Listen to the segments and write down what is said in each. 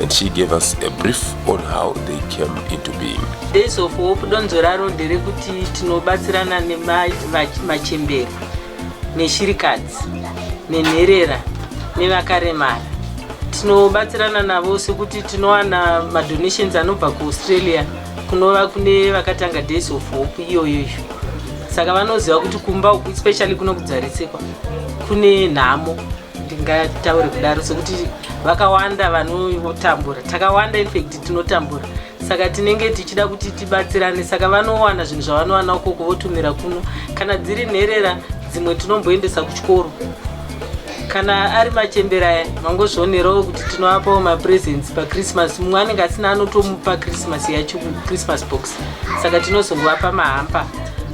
and she gave us a brief on how they came into being. Days of Hope donzo raro nderekuti tinobatsirana nemachembere neshirikadzi nenherera nevakaremara tinobatsirana navo sekuti tinowana madonations anobva kuaustralia kunova kune vakatanga days of hope iyoyoyo saka vanoziva kuti kumba uku especially kuno kudzarisikwa kune nhamo ndingataure kudaro sokuti vakawanda vanotambura takawanda infact tinotambura saka tinenge tichida kuti tibatsirane saka vanowana zvinhu zvavanowana ukoko votumira kuno kana dziri nherera dzimwe tinomboendesa kuchikoro kana ari machembere aya mangozvionerawo kuti tinovapawo mapresents pachristmas mumwe anenge asina anotomupa christmas yacho christmas box saka tinozongovapa mahampa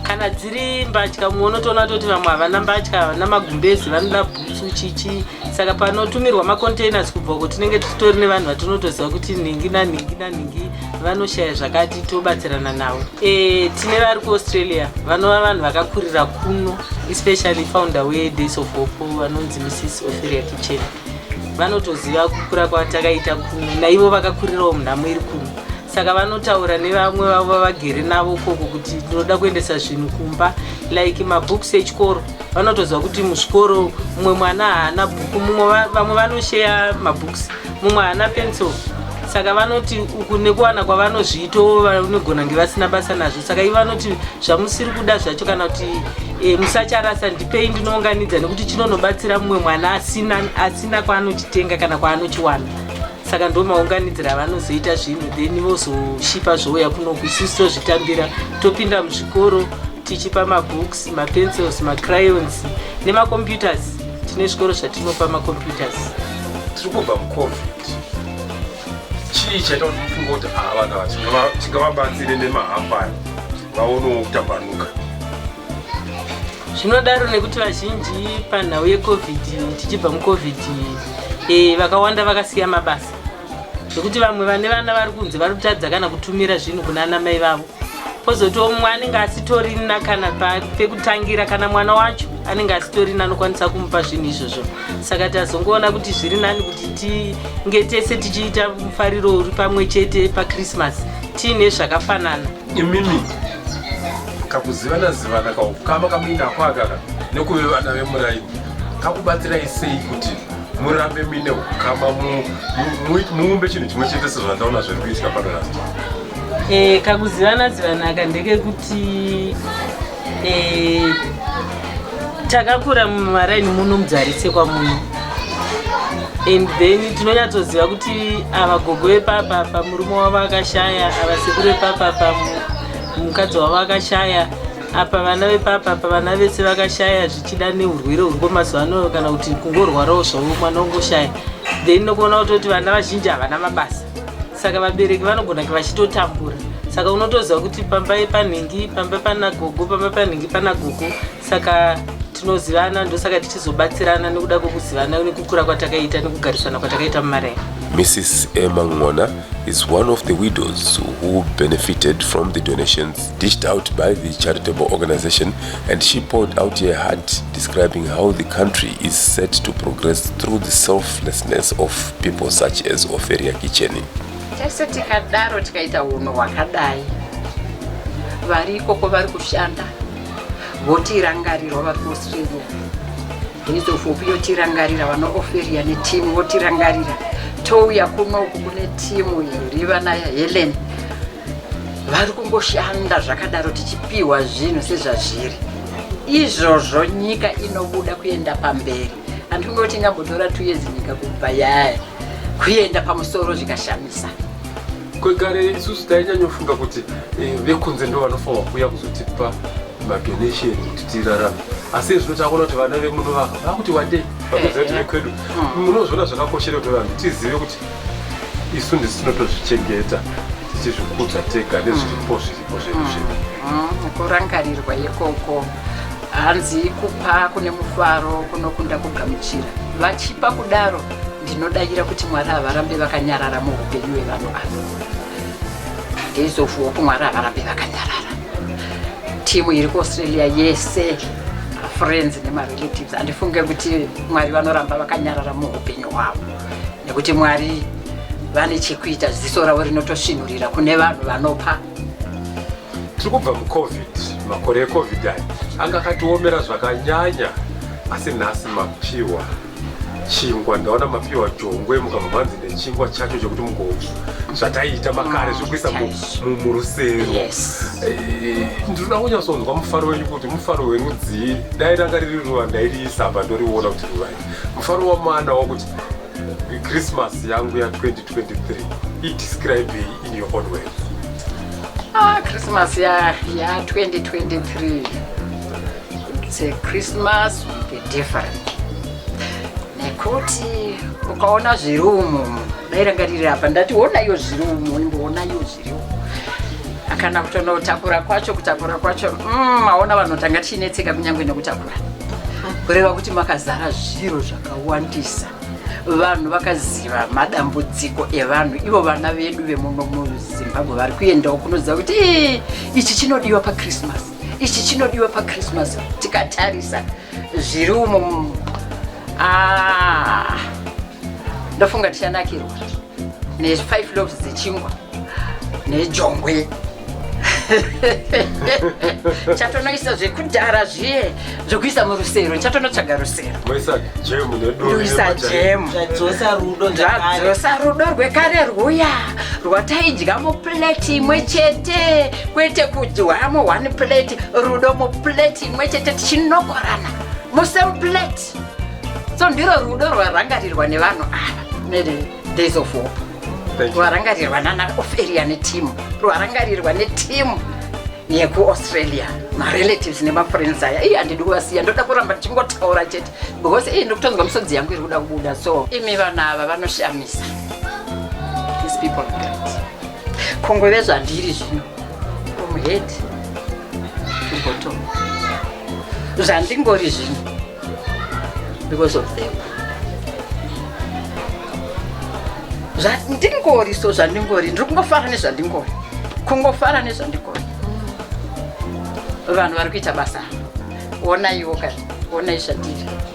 kana dziri mbatya mumwe unotoona toti vamwe havana mbatya havana magumbezi vanoda bhutsu chichi saka panotumirwa macontainers kubva uko tinenge titori nevanhu vatinotoziva kuti nhingi nanhingi nanhingi vanoshaya zvakati tobatsirana navo e, tine vari kuaustralia vanova vanhu vakakurira kuno especially founder wedays of hope vanonzi mrs ophelia kitchen vanotoziva kukura kwatakaita kuno naivo vakakurirawo munhamo iri kuno saka vanotaura nevamwe vavo vavagere navo ukoko kuti tinoda kuendesa zvinhu kumba like mabooks echikoro vanotoziva kuti muzvikoro mumwe mwana haana bhuku vamwe vanosheya mabooks mumwe haana pencil saka vanoti uku nekuwana kwavanozviito vanogona kunge vasina basa nazvo saka ivo vanoti zvamusiri kuda zvacho kana kuti e, musacharasa ndipei ndinounganidza nekuti chinonobatsira mumwe mwana asina, asina kwaanochitenga kana kwaanochiwana saka ndo maunganidzira avanozoita zvinhu then vozoshipa zvouya kunoku isusu tozvitambira topinda muzvikoro tichipa mabooks mapencils macryons nemacomputers tine zvikoro zvatinopa macomputers tiri kubva mucovid chii chaita kuti mufunga kuti ava vana vachingavabatsire nemahampani vaonewo kutambanuka zvinodaro nekuti vazhinji panhau yecovid tichibva mucovid e, vakawanda vakasiya mabasa zvekuti vamwe vane vana vari kunzi vari kutadza kana kutumira zvinhu kuna ana mai vavo kozotiwo mumwe anenge asitorina kana pekutangira kana mwana wacho anenge asitorina anokwanisa kumupa zvinhu izvozvo saka tazongoona kuti zviri nani kuti tinge tese tichiita mufariro uri pamwe chete pakrismas tiine zvakafanana imimi kakuzivana zivana kaukama kamuina kwakaka nekuve vana vemuraini kakubatsirai sei kuti murambe muine ukama muumbe chinhu chimwe chete sezvandaona zviri kuitika pano rasta e, kakuzivana zivanaka ndekekuti Eh, takakura mumaraini muno mudzarisekwa muno and then tinonyatsoziva kuti ava gogo vepapapa murume wavo akashaya ava sekuru vepapapa mukadzi wavo akashaya apa vana vepapapa vana vese vakashaya zvichida neurwere huripo mazuva ano kana kuti kungorwarawo zvavo mwana ungoshaya then nokuona kutoti vana vazhinji havana mabasa saka vabereki vanogona vachitotambura saka unotoziva kuti pamba panhingi pamba pana gogo pamba panhingi pana gogo saka tinozivana ndosaka tichizobatsirana nekuda kwekuzivana nekukura kwatakaita nekugarisana kwatakaita mumaraya Mrs. Emma Ngona is one of the widows who benefited from the donations dished out by the charitable organization And she poured out her heart, describing how the country is set to progress through the selflessness of people such as Oferia Kicheni. Tese tikadaro tikaita uno wakadai vari ikoko vari kushanda votirangarirwa vari kuaustralia henizofopi yotirangarira vana oferia netimu votirangarira touya kunoku kune timu iri vana helen vari kungoshanda zvakadaro tichipiwa zvinhu sezvazviri izvozvo nyika inobuda kuenda pamberi handingoti ingambotora two years nyika kubva yaya kuenda pamusoro zvikashamisa kwegare isusu tainyanyofunga kuti eh, vekunze ndo vanofanwa kuuya kuzotipa madonation kuti tirarame asi izvino takuona kuti vana vemuno vaka vakuti wandei vakuziva kuti eh, eh. vekwedu mm. munozviona zvakakoshera kuti vanhu tizive kuti isu ndisu tinotozvichengeta tichizvikudza tega nezviripo zviripo zvedu mm. zvedu mm, kurangarirwa ikoko hanzi kupa kune mufaro kunokunda kugamuchira vachipa kudaro ndinodavira kuti mwari havarambe vakanyarara muupenyu hwevanhu avo days of hope mwari havarambe vakanyarara timu iri kuaustralia yese friends nemarelatives handifunge kuti mwari vanoramba vakanyarara muupenyu hwavo nekuti mwari vane chekuita ziso ravo rinotosvinurira kune vanhu vanopa tiri kubva mucovid makore ecovid aya anga akatiomera zvakanyanya asi nhasi mapiwa chingwa ndaona mapiwa jongwe mukabva manzi nechingwa chacho chekuti mugovu zvataiita makare zvekuisa mu- mu- murusero Yes. Eh, ndinoda kunyatsonzwa mufaro wenyu kuti mufaro werudzii dai ranga riri ruva ndairiisa apa ndoriona kuti ruva mufaro wamwana wakuti christmas yangu ya 2023 idescribe in your own way ah, christmas ya, ya 2023 it's a christmas with a different nekuti ukaona zviri umu dairangarira apa ndati onaiyo zviri umu imboonaiyo kana kutonotakura kwacho kutakura kwacho mm, aona vanhu tanga tichinetseka kunyange nekutakura kureva kuti makazara zviro zvakawandisa vanhu vakaziva madambudziko evanhu ivo vana vedu vemuno muzimbabwe vari kuendawo kunoziva kuti ichi chinodiwa pachristmas ichi chinodiwa pachristmas tikatarisa zviri umo ah, ndofunga tichanakirwa nefive loves dzechingwa nejongwe chatonoisa zvekudhara zviye zvekuisa murusero chatonotsvaga rusero ndoisa jemu zvadzosa rudo rwekare rwuya rwataidya mupleti imwe chete kwete kudyamo one pleti rudo mupleti imwe chete tichinokorana musemupleti so ndiro rudo rwarangarirwa nevanhu ava nedays of hope rwarangarirwa nana oferia netimu rwarangarirwa netimu yekuaustralia marelatives nemafriends aya iyi handidi kuvasiya ndoda kuramba ndichingotaura chete because iyi ndikutonzwa misodzi yangu iri kuda kubuda so imi vanhu ava vanoshamisa these people are great kongove zvandiri zvino from head to bottom zvandingori zvino because of them zvandingori so zvandingori ndiri kungofara nezvandingori kungofara nezvandingori vanhu vari kuita basa onaiwo kani onai shatiri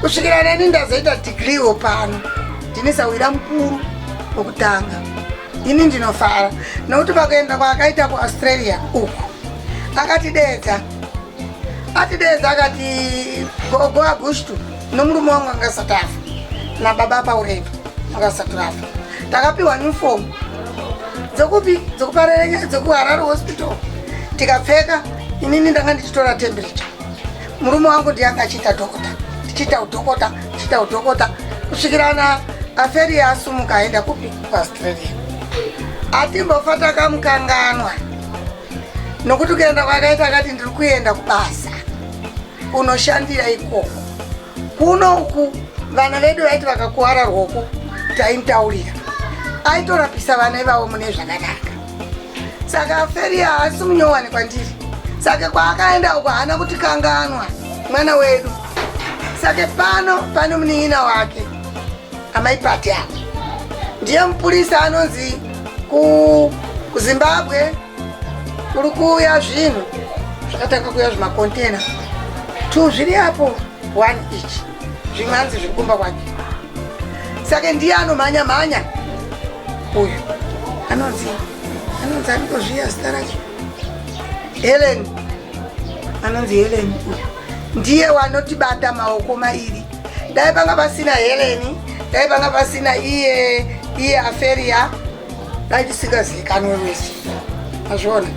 kusvikira neni ndazoita digriwo pano ndine sawira mukuru wokutanga ini ndinofara nokuti pakuenda kwaakaita kuaustralia uku akatideedza atideedza akati gogo agustu nomurume wangu angasati afa nababa paureva angasati rafa takapiwa newfomu dzokupi dzokuparerenya dzokuharare hospital tikapfeka inini ndanga ndichitora temperature Murume wangu ndiye anga achiita dhokota, ndichiita udhokota, ndichiita udhokota kusvikira na aferi yaasumuka aenda kupi kuaustralia. Atimbofa takamukanganwa nokuti kuenda kwakaita akati ndiri kuenda kubasa kunoshandira ikoko kuno uku vana vedu vaiti vakakuwara rwoko taimutaurira aitorapisa vana ivavo mune zvakanaka saka feri haasi munyowani kwandiri saka kwaakaenda uko haana kuti kanganwa mwana wedu saka pano pane munin'ina wake amai pati apo ndiye mupurisa anonzi kuzimbabwe kuri kuuya zvinhu zvakatanga kuuya zvimakontena two zviri apo one each zvimanzi zviri kumba kwake sake ndiye anomhanya mhanya uyu anonzi anonzi anotozviya zita racho helen anonzi helen uyu ndiye wanotibata maoko mairi dai panga pasina heleni dai panga pasina iye iye aferia dai tisingazikanwe wese azviona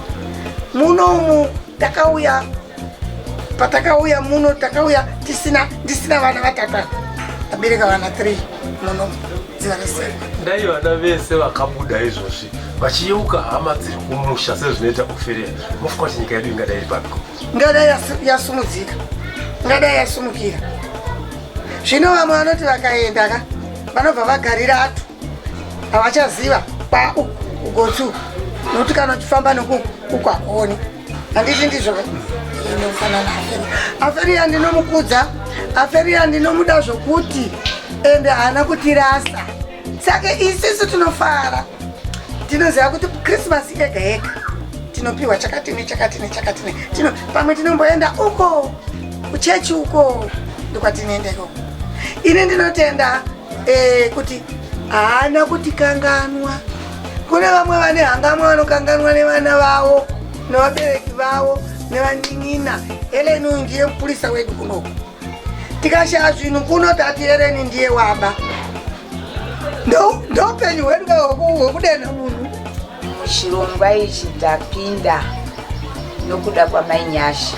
muno umu takauya patakauya muno takauya tisina ndisina vana vatata tabereka vana 3 muno dai vana vese vakabuda izvozvi vachiyeuka hama dziri kumusha sezvinoita oferia mofuka kuti nyika yedu ingadai iri pako ngadai yasumudzika ngadai yasumukira zvino vamwe vanoti vakaenda ka vanobva vagarira atu havachaziva kwa ugotsu nokuti kana uchifamba nokuku hakuoni handiti ndizvo inofanana aferi aferi yandinomukudza aferi yandinomuda zvokuti ende haana kutirasa saka isisu tinofara tinoziva kuti krismasi yega yega tinopiwa chakati nechakati nechakati tino pamwe tinomboenda uko kuchechi uko ndokwatinoenda ikoko ini ndinotenda e, kuti haana kuti kanganwa kune vamwe vane hangamwa vanokanganwa nevana vavo nevabereki vavo nevanin'ina heleni uyu ndiye mupurisa wedu kunoku tikashaya zvinhu kuno tati heleni ndiye waba ndoupenyu hwedu hwekudenha munhu chirongwa ichi ndapinda nokuda kwamainyasha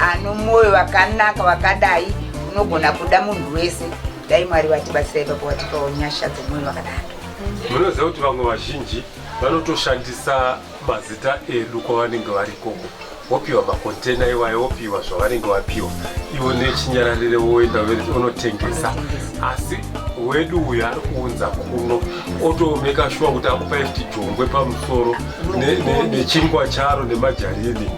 ano mwoyo wakanaka wakadai unogona kuda munhu wese dai mwari vatibatsirai papo vatipawo nyasha dzemwoyo wakadaro munoziva kuti vamwe vazhinji vanotoshandisa mazita edu kwavanenge vari ikoko wopiwa makontena iwayo wopiwa zvavanenge vapiwa ivo nechinyararire woenda unotengesa asi wedu uyu ari kuunza kuno otomeka shuwa kuti akupa fti jongwe pamusoro nechingwa charo nemajarini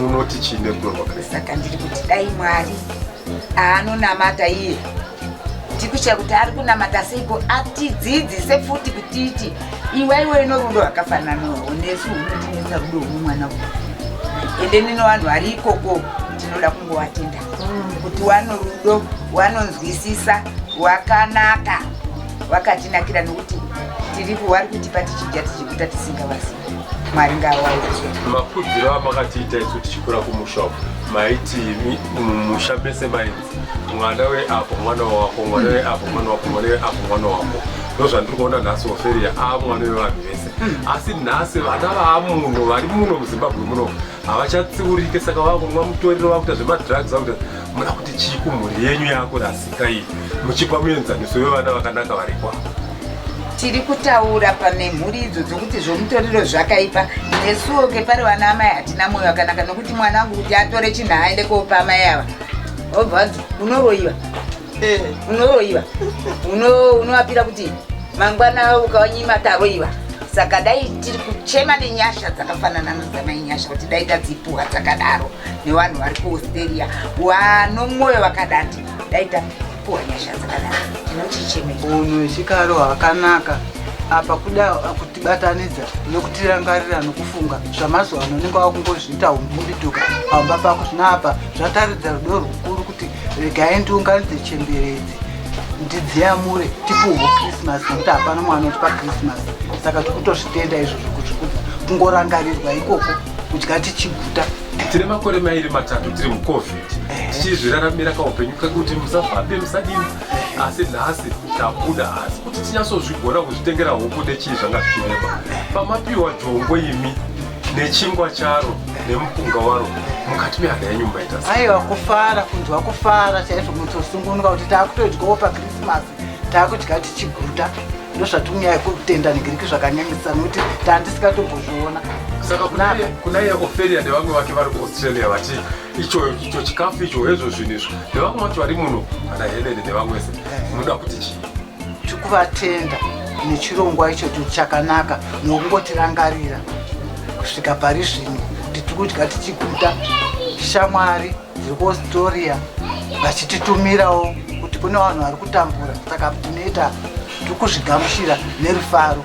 munoti chii nerudo rwaKristu saka ndiri kuti dai mwari aanonamata iye tikushaya kuti ari kunamata seiko atidzidzise futi kutiti iwa iwe ino rudo rwakafananawo nesu unotinetsa rudo uno mwana uyu ende nino vanhu vari ikoko tinoda kungovatenda kuti wano rudo wanonzwisisa wakanaka wakatinakira nokuti tiri kuwari kutipa tichidya tichikuta tisingavasi mwari ngaawaudze makudziro amakatiita isu tichikura kumusha uko maiti mi- mumusha mese mainzi mwana weapo mwana wako mwana weapo mwana wako mwana weapo mwana wako ndozvandiri kuona nhasi oferia aa mwana wevanhu vese asi nhasi vana vaamuno vari muno muzimbabwe muno havachatsiurike saka vakunwa mutoriro vakuita zvemadrugs vakuita muna kuti chii kumhuri yenyu yako rasika iyi muchipa muenzaniso wevana vakanaka varikwa tiri kutaura pane mhuri idzo dzokuti zvomutoriro zvakaipa nesuwo kepari vana amai hatina mwoyo wakanaka nokuti mwana wangu kuti atore chinhu aende koopa amai ava obva unoroyiwa eh. unoroiva unovapira kuti mangwana ukawanyima taroiva saka dai tiri kuchema nenyasha dzakafanana nozamai nyasha kuti dai tadzipuwa dzakadaro nevanhu vari kuaustralia wano mwoyo vakadati dai tapuwa nyasha dzakadaro tinochichemei unhu wechikaro hwakanaka apa kuda kutibatanidza nokutirangarira nokufunga zvamazuva ano unenge wakungozviita umbundituka pamba pako zvino apa zvataridza rudo rukuru kuti regai ndiunganidze chembere idzi ndidziyamure tipuhwe christmas nekuti hapana mwana utipa christmas saka tikutozvitenda izvo zvokuzvikudza kungorangarirwa ikoko kudya tichiguta tine makore mairi matatu tiri mucovid tichizviraramira kaupenyu kekuti musafambe musadini asi nhasi tabuda asi kuti tinyatsozvigona kuzvitengera huku nechii zvanga zvichirema pamapiwa jongo imi nechingwa charo nemupunga waro mukati mehana yenyu mumaita aiwa kufara kunzwa kufara chaizvo mutosungunuka kuti taakutodyawo pakrisimasi taakudya tichiguta ndozvatimunyaya kutenda negiriki zvakanyanyisa nokuti tandisikatombozviona saka kunaiye oferia nevamwe vake vari kuaustralia vati icho icho chikafu icho hezvo zvinhu izvo nevamwe vacho vari muno ana helene nevamwese munoda kuti chii tikuvatenda nechirongwa icho chakanaka nokungotirangarira kusvika pari zvino tiri kudya tichiguta shamwari dziri kuaustralia vachititumirawo kuti kune vanhu vari kutambura saka tinoita tiri kuzvigamuchira nerufaro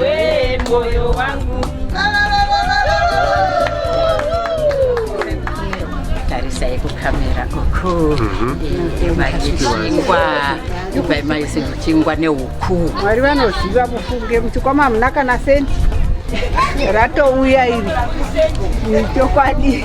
we moyo wangu tarisai kukamera uku ivayichingwa ivaimaisi muchingwa neuku mwari vanoziva mufunge muchikwama hamuna kana senti ratouya iri chokwadi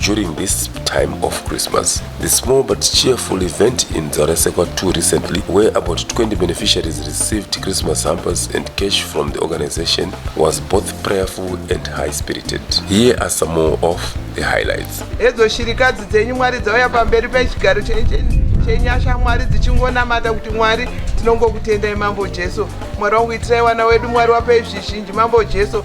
During this time of Christmas, the small but cheerful event in Dzarasekwa 2 recently, where about 20 beneficiaries received Christmas hampers and cash from the organization, was both prayerful and high-spirited. Here are some more of the highlights. Edzo shirikadzi dzenyu Mwari dzauya pamberi pechigaro chenyasha Mwari dzichingonamata kuti Mwari tinongokutendai Mambo Jesu. Mwari wangu itirai wana wedu Mwari wapei zvizhinji Mambo Jesu.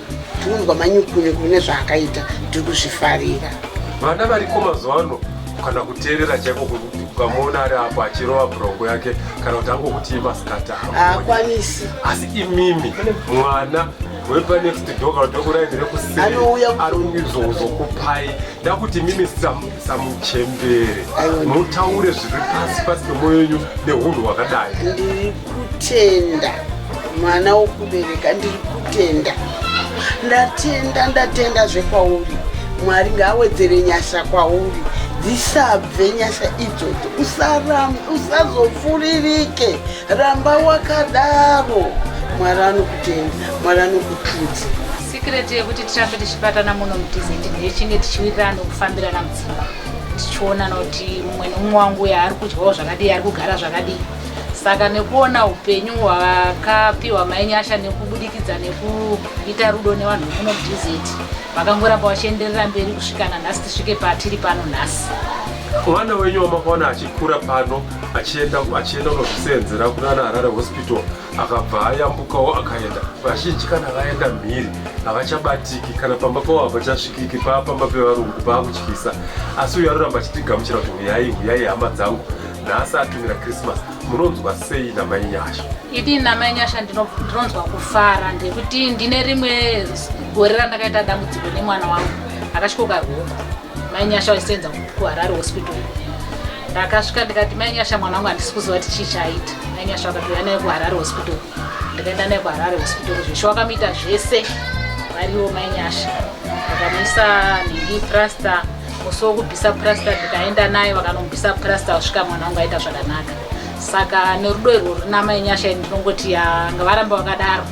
tinonzwa manyukunyu kune zvaakaita tiri kuzvifarira vana variko mazuva ano kana kuteerera chaiko ukamuona ari apo achirova brongo yake kana kuti angokuti imasikata akwanisi asi imimi mwana wepanext door kana tokuraindire kusiizokupai ndakuti mimi samuchembere mutaure zviri pasi pasi pemwoyo yenyu neunhu hwakadai kutenda mwana wokubereka ndiri kutenda ndatenda ndatenda zvekwauri mwari ngaawedzere nyasha kwauri dzisabve nyasha idzodzo usarambe usazofuririke ramba wakadaro mwari anokutenda mwari anokutudza sikireti yekuti tirambe tichibatana muno mudizeti ndechinge tichiwirirana kufambirana mudzimba tichionana kuti mumwe neumwe wangu uyo ari kudyawo zvakadii ari kugara zvakadii saka nekuona upenyu hwakapiwa mainyasha nekubudikidza nekuita rudo nevanhu vekuno dz vakangoramba vachienderera mberi kusvika nanhasi tisvike patiri pano nhasi mwana wenyu wamakaona achikura pano achienda achienda kunozviseenzera kunana harare hospital akabva ayambukawo akaenda vazhinji kana vaenda mhiri havachabatiki kana pamba pavo havachasvikiki paa pamba pevarungu paakutyisa asi uyo anoramba achitigamuchira kuti huyai huyai hama dzangu nhasi atumira christmas munonzwa sei namai nyasha idii namai nyasha ndinonzwa kufara ndekuti ndine rimwe gore randakaita dambudziko nemwana wangu akasvikoka huku mai nyasha waisenza kuharare hospital ndakasvika ndikati mai nyasha mwana wangu handisi kuziva kuti chii chaita mai nyasha wakatouya naye kuharare hospital ndikaenda naye kuharare hospital zveshe wakamuita zvese variwo mai nyasha vakamuisa nhingi praster musi wokubvisa purasita ndikaenda naye vakanobvisa purasita vasvika mwana wangu aita zvakanaka saka nerudo irwo runama yenyasha ini ndinongoti yanga varamba vakadaro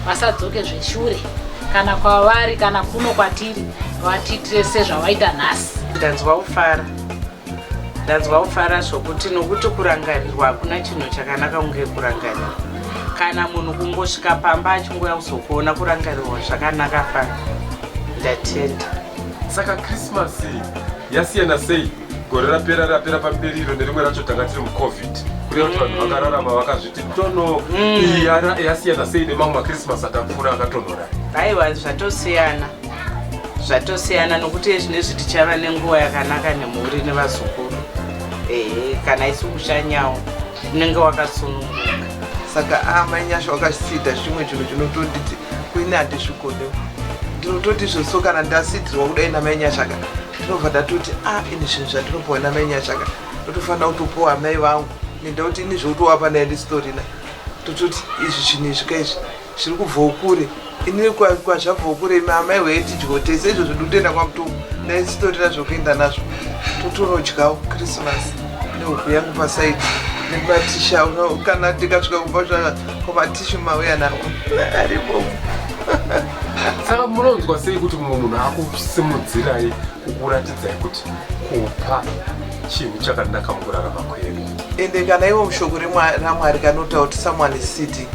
vasadzoke zveshure kana kwavari kana kuno kwatiri vatiitire sezvavaita nhasi ndanzwa kufara ndanzwa kufara zvokuti nokuti kurangarirwa hakuna chinhu chakanaka kunge kurangarira kana munhu kungosvika pamba achingouya kuzokuona kurangarirwa zvakanaka fana ndatenda saka krismasi yasiyana sei gore rapera rapera pamberi iro nerimwe racho tanga tiri mucovid kureva kuti vanhu vakararama vakazviti tono iyi yara- yasiyana sei nemamwe makrismasi atapfuura akatonhora aiwa zvatosiyana zvatosiyana nokuti zvinezvi tichava nenguva yakanaka nemhuri nevazukuru ehe kana isu kushanyawo unenge wakasununguka saka amai nyasha wakasida chimwe chinhu chinotonditi kuine handisvikonewo ndinototi izvo so kana ndasidzirwa kudai namai nyashaka ndinobva ndatoti a ah, ini zvinhu zvandinopuwa namai nyashaka ndotofanira kutopuwa amai vangu nenda kuti ini zvekutovapa naye ndisitorina tototi izvi zvinhu izvi ka izvi zviri kubvawo kure ini kwazvabvawo kure imi amai wee tidyiwo tese izvo zvindotoenda kwamutongo naye sitorina zvokuenda nazvo totonodyawo krismasi nehuku yangu pasaidi nematisha kana ndikasvika kumba zvaa tishu mauya nawo ari bomu saka munonzwa sei kuti mumwe munhu akusimudzirai kukuratidzai kuti kupa chinhu chakanaka mukurarama kwedu ende kana ivo mushoko ramwari kanotaura kuti someone is city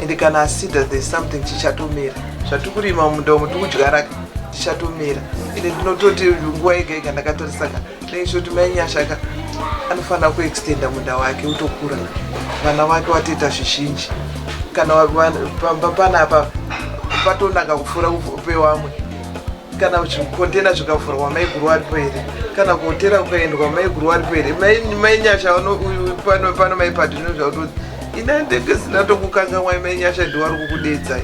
ende kana asida there's something chichatomera zvatiri kurima mumunda umu tiri kudyara tichatomera ende ndinototi nguva yega yega ndakatorisaka Ndezvo kuti mai Nyashaka anofanira kuextenda munda wake utokura vana vake watoita zvizhinji kana pamba panapa patonaka kupfuura pevamwe kana zvikontena zvikavhurwa maiguru aripo here kana kuhotera kukaendwa maiguru aripo here mai nyasha pano mai padhino zvakuti ini andenge zina tokukangamwai mai nyasha ndiwari kukudedzai